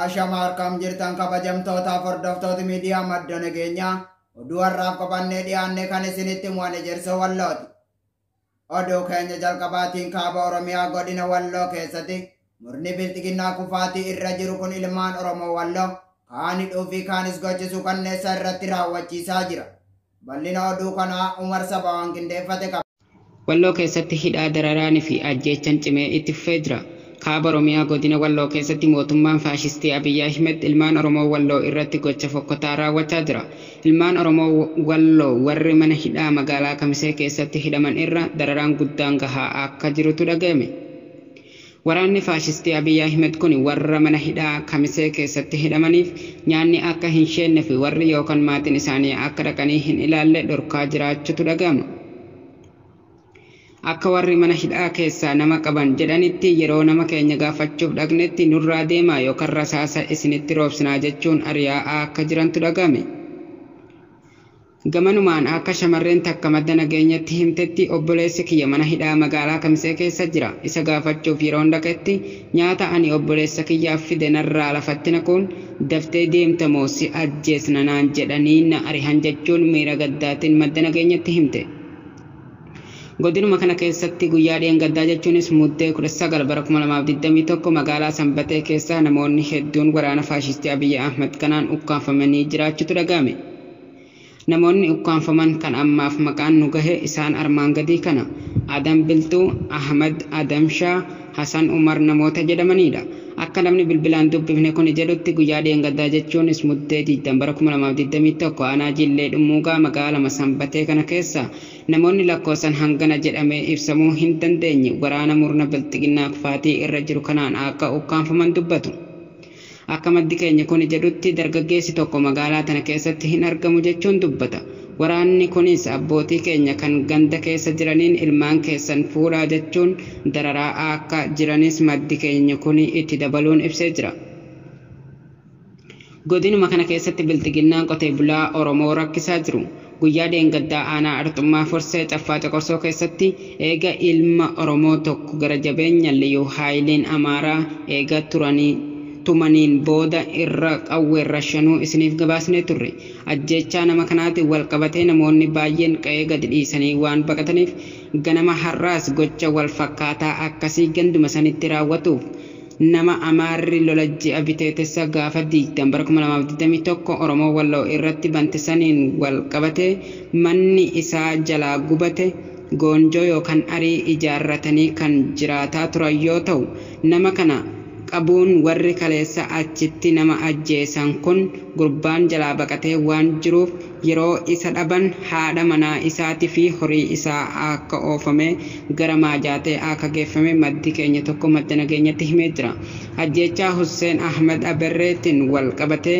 Ashama harkam jirtan kabajamtootaaf hordoftoota miidiyaa madda nageenyaa oduu har'aaf qabannee dhiyaanne kan isinitti mo'ane jersoo wallooti. Oduu keenya jalqabaatiin kaaba Oromiyaa godina Walloo keessatti murni bilxiginnaa kufaatii irra jiru kun ilmaan Oromoo Walloo kaan hidhuu fi kaanis gochisuu kanneessa irratti raawwachiisaa jira. Bal'ina oduu kanaa Umar Saba waan qindeeffate qaba. Walloo keessatti hidhaa dararaanii fi ajjeechan cimee itti fufee jira. Kaaba Oromiyaa Godina Walloo keessatti mootummaan faashistii Abiy Ahimed ilmaan Oromoo Walloo irratti gocha fokkotaa raawwachaa jira. Ilmaan Oromoo Walloo warri mana hidhaa magaalaa Kamisee keessatti hidhaman irra dararaan guddaan gahaa akka jirutu dhagayame. Waraanni faashistii Abiy Ahimed kuni warra mana hidhaa Kamisee keessatti hidhamaniif nyaanni akka hin sheenne fi warri yookan maatin isaanii akka dhaqanii hin ilaalle dhorkaa jiraachutu dhagayama. Akka warri mana hidhaa keessaa nama qaban jedhanitti yeroo nama keenya gaafachuuf dhaqnetti nurraa deemaa yookan rasaasa isinitti roobsinaa jechuun ariyaa'aa akka jirantu dhaga'ame. Gamanumaan akka shamarreen takka madda nageenyatti himtetti obboleessi kiyya mana hidhaa magaalaa Kamisee keessa jira. Isa gaafachuuf yeroon dhaqetti nyaata ani obboleessa kiyyaaf fide narraa lafatti naquun daftee deemta moo si ajjeesna naan jedhanii na arihan jechuun miira gaddaatin madda nageenyatti himte. Godinuma kana keessatti guyyaa dheengaddaa jechuunis Muddee 19 bara 2021 magaalaa Sanbatee keessaa namoonni hedduun waraana faashistii Abiy Ahmed kanaan ukkaamfamanii jiraachutu dhaga'ame. Namoonni ukkaamfaman kan ammaaf maqaan nu gahe isaan armaan gadii kana. Adam Bilxuu, Ahmed Adam Shaa, Hasan Umar namoota jedhamaniidha. Akka namni bilbilaan dubbifne kuni jedhutti guyyaa dheengaddaa jechuunis Muddee 20 bara 2021 aanaa Jillee Dhummuugaa magaalama Sanbatee kana keessa namoonni lakkoosan hangana jedhamee ibsamuu hin dandeenye waraana murna bilxiginnaa kufaatii irra jiru kanaan aakka ukkaamfaman dubbatu. Akka maddi keenya kuni jedhutti dargaggeessi tokko magaalaa tana keessatti hin argamu jechuun dubbata. Waraanni kunis abbootii keenya kan ganda keessa jiraniin ilmaan keessan fuudhaa jechuun dararaa aakka jiranis maddi keenya kuni itti dabaluun ibsee jira. Godinuma kana keessatti bilxiginnaan qotee bulaa Oromoo rakkisaa jiru. Guyyaa dheengaddaa aanaa Arxummaa Fursee Caffaa Coqorsoo keessatti eega ilma Oromoo tokko gara jabeenya Liyuu Haayiliin Amaaraa eega turanii tumaniin booda irra qawween rashanuu isiniif gabaasnee turre. Ajjeechaa nama kanaatiin walqabatee namoonni baayyeen qa'ee gadi dhiisanii waan baqataniif ganama har'aas gocha walfakkaataa akkasii ganduma sanitti raawwatuuf Nama Amaarri lola ji'a Biteetessa gaafa 20 bara 2021 Oromoo Walloo irratti bante saniin wal qabatee manni isaa jalaa gubate goonjoo yookan arii ijaarratanii kan jiraataa turan yoo ta'u nama kana qabuun warri kaleessa achitti nama ajjeesan kun gurbaan jalaa baqatee waan jiruuf Yeroo isa dhaban haadha manaa isaati fi horii isaa aakka oofame gara Maajaatee aakka geeffame maddi keenya tokko madda nageenyatti himee jira. Ajjeechaa Husseen Ahmed Aberreetin wal qabatee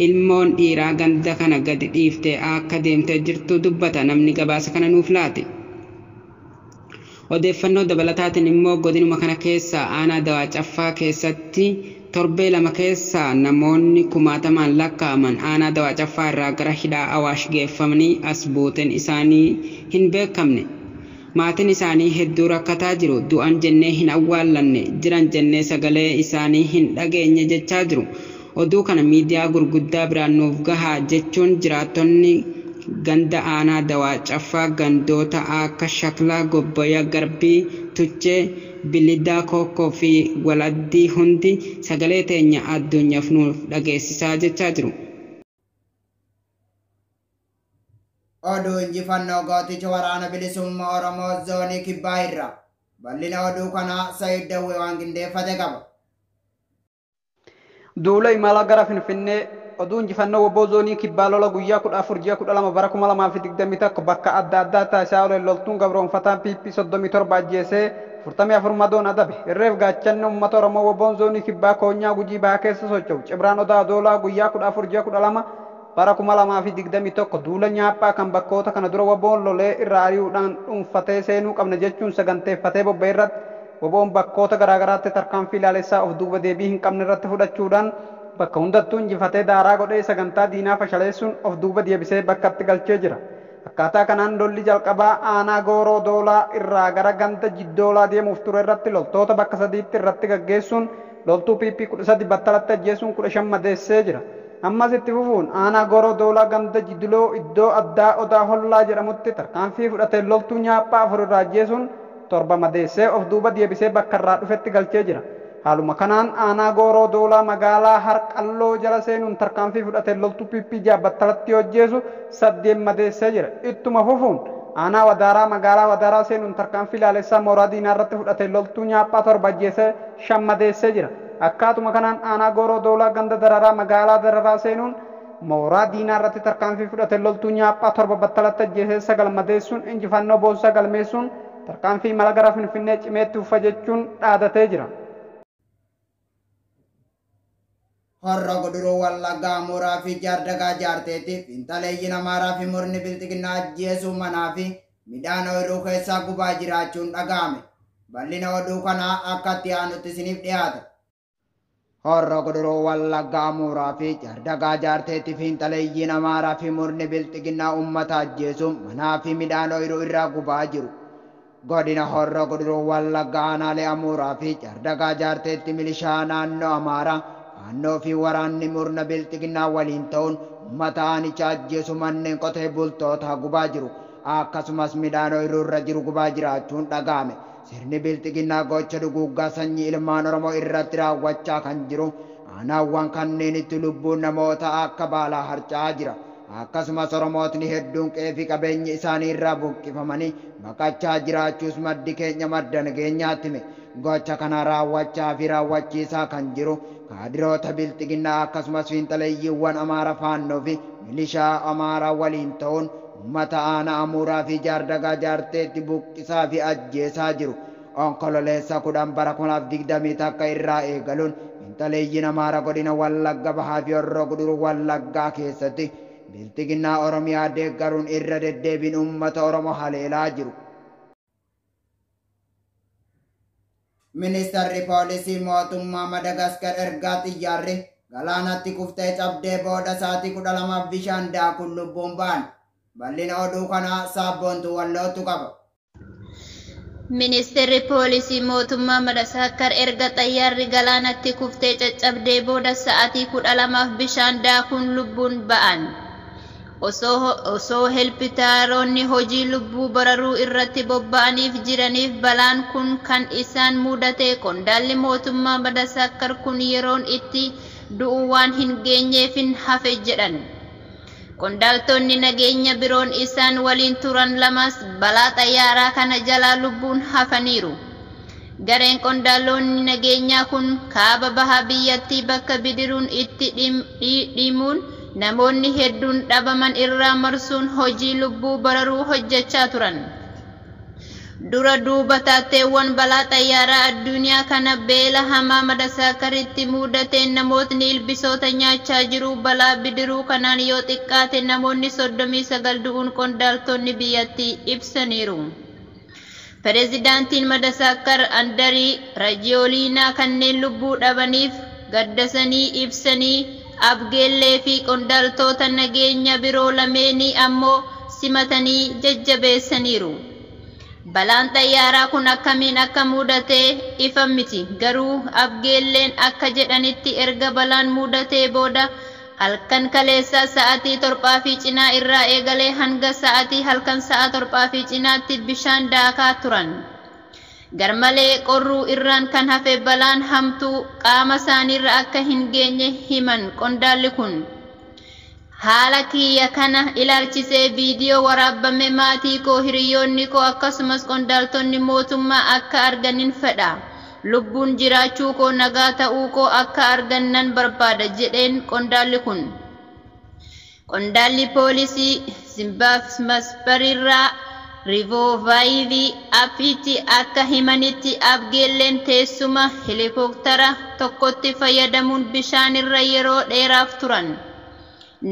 ilmoon dhiiraa ganda kana gadi dhiiftee aakka deemtee jirtu dubbata namni gabaasa kana nuuf laate. Odeeffannoo dabalataatiin immoo godinuma kana keessaa aanaa Dawaa Caffaa keessatti torbee lama keessa namoonni kumaatamaan lakkaa'aman aanaa Dawaa Caffaa irraa gara hidhaa Awaash geeffamanii as buuteen isaanii hin beekamne. Maatiin isaanii hedduu rakkataa jiru, du'an jennee hin awwaallanne, jiran jennee sagalee isaanii hin dhageenye jechaa jiru. Oduu kana miidiyaa gurguddaa biraan nuuf gahaa jechuun jiraattonni ganda aanaa Dawaa Caffaa gandoota aakka Shaklaa, Gobboya, Garbii, Tuchee, Bilidaa, Kookkoo fi Wal Addii hundi sagalee teenya adduunyaf nuuf dhageessisaa jechaa jiru. Oduu Injifannoo Gooticha Waraana Bilisummaa Oromoo Zoonii Kibbaa irraa. Bal'ina oduu kanaa Said Dawwee waan qindeeffate qaba. Duula Imala Gara Finfinnee Oduu Injifannoo wbo Zoonii Kibbaa Lola Guyyaa 14 Ji'a 12 Bara 2021 Bakka Adda Addaa Taasisaa Oleen Loltuun Gabroomfataan PP 37 Ajjeesee 44 Madoon Adabe Irreef Gaachanni Ummata Oromoo wboon Zoonii Kibbaa Koonyaa Gujii Bahaa Keessa Socho'u Cibraan Odaa Adoolaa Guyyaa 14 Ji'a 12 Bara 2021 duula nyaaphaa kan bakkoota kana dura wbo'n lolee irraa ari'uudhaan dhuunfatee seenuu qabna jechuun saganteeffatee bobba'e irratti wbo'n bakkoota garaagaraatti tarkaanfii laalessaa of duuba deebii hin qabne irratti fudhachuudhaan bakka hundattuu injifatee daaraa godhee sagantaa diinaa fashaleessuun of duuba diebisee bakkatti galchee jira. Akkaataa kanaan lolli jalqabaa aanaa Gooroo Doolaa irraa gara ganda Jiddoolaa deemuuf ture irratti loltoota bakka sadiitti irratti gaggeessuun Loltuu PP 13 battalatti ajjeesuun 15 madeessee jira. Ammas itti fufuun aanaa Gooroo Doolaa ganda Jidiloo iddoo addaa Odaa Hollaa jedhamutti tarkaanfii fudhateen loltuu nyaaphaa 4 irraa ajjeesuun 7 madeessee of duuba deebisee bakka irraa dhufetti galchee jira. Haaluma kanaan aanaa Gooroo Doolaa magaalaa Harqalloo jala seenuun tarkaanfii fudhateen loltuu PP 6 battalatti yoo ajjeesu 8 madeessee jira. Ittuma fufuun aanaa Wadaaraa magaalaa Wadaaraa seenuun tarkaanfii laalessaa mooraa diinaa irratti fudhateen loltuu nyaaphaa 7 ajjeesee 5 madeessee jira. Akkaatuma kanaan aanaa Gooroo Doolaa ganda Dararaa magaalaa Dararaa seenuun mooraa diinaa irratti tarkaanfii fudhateen loltuu Nyaaphaa 7 battalatti ajjeesee 9 madeessuun injifannoo boonsaa galmeessuun tarkaanfii imala gara Finfinnee cimee itti fufa jechuun dhaadatee jira. Horro Guduruu Wallaggaa Mooraa fi Jaardagaa Jaarteetti Fiinxaleeyyiin Amaaraa fi Murni Bilxiginnaa Ajjeesuu Manaa fi Midhaan Ooyiruu Keessaa Gubaa Jiraachuun Dhaga'ame. Bal'ina Oduu Kanaa Akka Itti Aanutti Isiniif Dhiyaata. Horro Guduruu Wallaggaa Mooraa fi Jaardagaa Jaarteetti Fiinxaleeyyiin Amaaraa fi Murni Bilxiginnaa Uummata Ajjeesuun Manaa fi Midhaan Ooyiruu Irraa Gubaa Jiru. Godina Horroo Guduruu Wallaggaa Aanaalee Amuuraa fi Jaardagaa Jaarteetti Milishaa Naannoo Amaaraa, Faannoo fi Waraanni Murna Bilxiginnaa waliin ta'uun Ummata Aanicha ajjeesu Manneen Qotee Bultootaa gubaa jiru. Akkasumas Midhaan Oyruu irra jiru gubaa jiraachuun dhaga'ame. Sirni Bilxiginnaa Gocha Duguuggaa Sanyii Ilmaan Oromoo irratti raawwachaa kan jiru Aanaawwan kanneenitti Lubbuun Namootaa akka Baalaa harca'aa jira. Akkasumas Oromootni hedduun qe'ee fi qabeenyi isaanii irraa buqqifamanii baqachaa jiraachuus maddi keenya madda nageenyaatti hime. Gocha kana raawwachaa fi raawwachiisaa kan jiru kaadiroota Bilxiginnaa akkasumas fiinxaleeyyiiwwan Amaara Faannoo fi milishaa Amaaraa waliin ta'uun uummata aanaa Amuuraa fi Jaardagaa Jaarteetti buqqisaa fi ajjeesaa jiru. Onkololeessa 10 bara 2021 irraa eegaluun finxaleeyyiin Amaara Godina Wallagga Bahaa fi Horroo Guduruu Wallaggaa keessatti Bilxiginnaa Oromiyaa deeggaruun irra deddeebiin uummata Oromoo haleelaa jiru. Ministarri Poolisii Mootummaa Madagaskar ergaa xiyyaarri galaanatti kuftee cabdee booda sa'aatii 12f bishaan daakuun lubbuun ba'an. Bal'ina oduu kanaa Saabboontuu Wallootu qaba. Ministirri Poolisii mootummaa Madasaakkar erga xayyaarri galaanatti kuftee caccabdee booda sa'aatii 12f bishaan daakuun lubbuun ba'an. Osoo helpitaaroonni hojii lubbuu bararuu irratti bobba'aniif jiraniif balaan kun kan isaan muudate qondaalli mootummaa Madasaakkar kun yeroon itti du'u waan hin geenyeefin hafe jedhan. Qondaaltonni nageenya biroon isaan waliin turan lamas balaa xayyaaraa kana jalaa lubbuun hafaniiru. Gareen qondaaloonni nageenyaa kun kaaba baha biyyattii bakka bidiruun itti dhidhiimuun namoonni hedduun dhabaman irraa marsuun hojii lubbuu bararuu hojjechaa turan. Dura duuba taateewwan balaa xayyaaraa adduuniyaa kana beela hamaa Madasaakaritti muudateen namootni ilbisoota nyaachaa jiru. Balaa bidiruu kanaan yoo xiqqaate namoonni 39 du'uun qondaaltoonni biyyattii ibsaniiru. Perezidaantiin Madasaakkar Andarii Rajiyooliinaa kanneen lubbuu dhabaniif gaddasanii ibsanii, Abgeellee fi qondaaltoota nageenya biroo lameenii ammoo simatanii jajjabeessaniiru. Balaan xayyaaraa kun akkamiin akka muudate ifa miti, garuu Abgeelleen akka jedhanitti erga balaan muudatee booda halkan kaleessaa sa'atii torbaa fi cinaa irraa eegalee hanga sa'atii halkan sa'a torbaa fi cinaatti bishaan daakaa turan. Garmalee qorruu irraan kan hafe balaan hamtuu qaama isaaniirra akka hin geenye himan qondaalli kun. Haala kiyya kana ilaalchisee viidiyoo waraabbame maatii koo, hiriyyoonni koo akkasumas qondaaltonni mootummaa akka arganin fedha. Lubbuun jiraachuu koo nagaa ta'uu koo akka argan nan barbaada, jedheen qondaalli kun. Qondaalli poolisii Zimbabsbariirraa Rivovayivi Appiitti akka himanitti Abgeelleen teessuma helikooktara tokkotti fayyadamuun bishaanirra yeroo dheeraaf turan.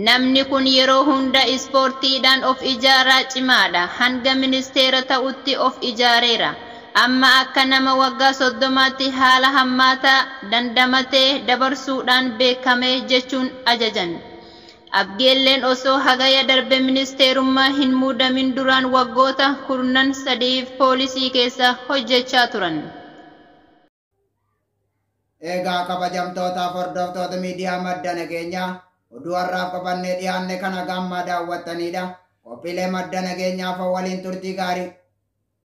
Namni kun yeroo hunda ispoortiidhaan of ijaaraa cimaadha. Hanga ministeera ta'utti of ijaareera. Amma akka nama waggaa 30tti haala hammaataa dandamatee dabarsuudhaan beekame, jechuun ajajan. Abgeelleen osoo Hagaya darbe ministeerummaa hin muudamin duraan waggoota kurnan sadiif poolisii keessa hojjechaa turan. Eegaa kabajamtootaaf hordoftoota miidiyaa madda nageenyaa oduu har'aaf qabannee dhiyaanne kan haga ammaa daawwattaniidha. Qophiilee madda nageenyaaf waliin turtii gaarii.